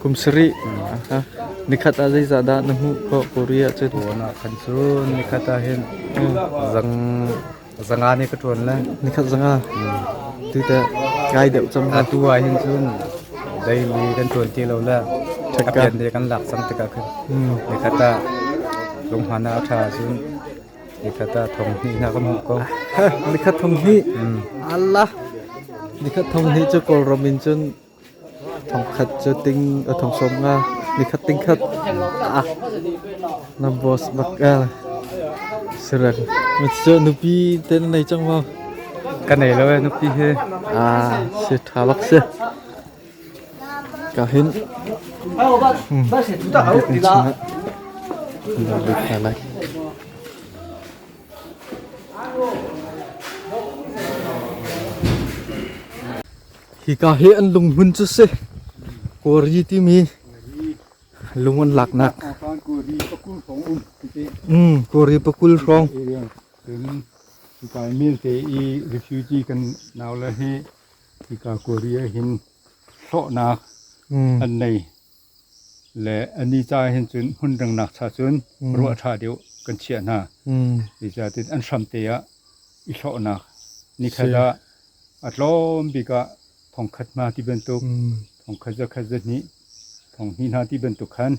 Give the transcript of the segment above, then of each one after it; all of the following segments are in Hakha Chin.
Kum sarih nikhat ah zeizah dah na hmuh khawh? Korea cun kan cu nikhat ah hin zanga nih ka ṭuan le nikhat zanga tute kai deuh cang. Atu ah hin cun daily kan ṭuan ti lo le a pian de kan lak cang tikah khin nikhat ah lunghman ah a ṭha cun Nikhat ah thong hnihnak kan hmuh ko. Nikhat thong hnih. Allah. Nikhat thong hnih cu Kawlram in cun thongkhat cu ting thong sawm nga nikhat tingkhat ah na boss bak ah serek cu nupi ten nei chang ma kan nei lo nupi he ah si tha bak si Ka hin biakinn chungah an rak lut hna lai. Hika hi an lunghmun cu si Kori timi lung an laknak mm, Kori pakul hrawng. Cun, hi kai mil te i refugee kan nau le hi hika kuri ah hin hlawhnak mm. an nei le an ni ca hin cun hmun dangnak cha cun mm. ruah ṭha deuh kan chiah hna mm. i zatin an hram te ah i hlawhnak ni khala a tlawm bik ah thongkhat ma ti bantuk mm. thongkhat za khat za hni thong hni hna ti bantuk khan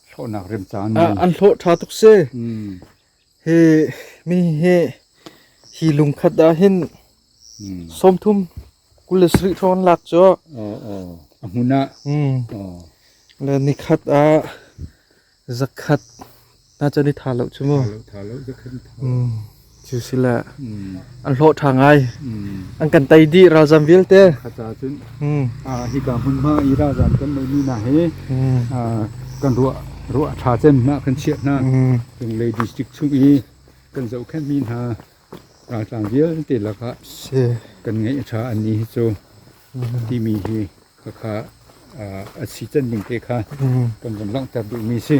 hlawhnak rem caan an hlawh ṭha tuk se mm. Mi hi hi lungkhat ah hin sawmthum kul le sarih thong an lak cu. A hmun ah. Le nikhat ah zakhat na chan i tha lo cu mu. Tha lo, tha lo, zakhat i tha lo. Cu sila. an hlawh ṭha ngai an kan tei dih ralzam vialte khaca cun hika hmunhma i ralzam kan neihmi hna hi kan ruah ruah a ṭha cem hna kan chiah hna cunglei district chung i kan zohkhenhmi hna raltlang vialte lakah kan ngeih a ṭha anni hi cu timi hi khakha a si can ding te kha kan vun langhter duhmi si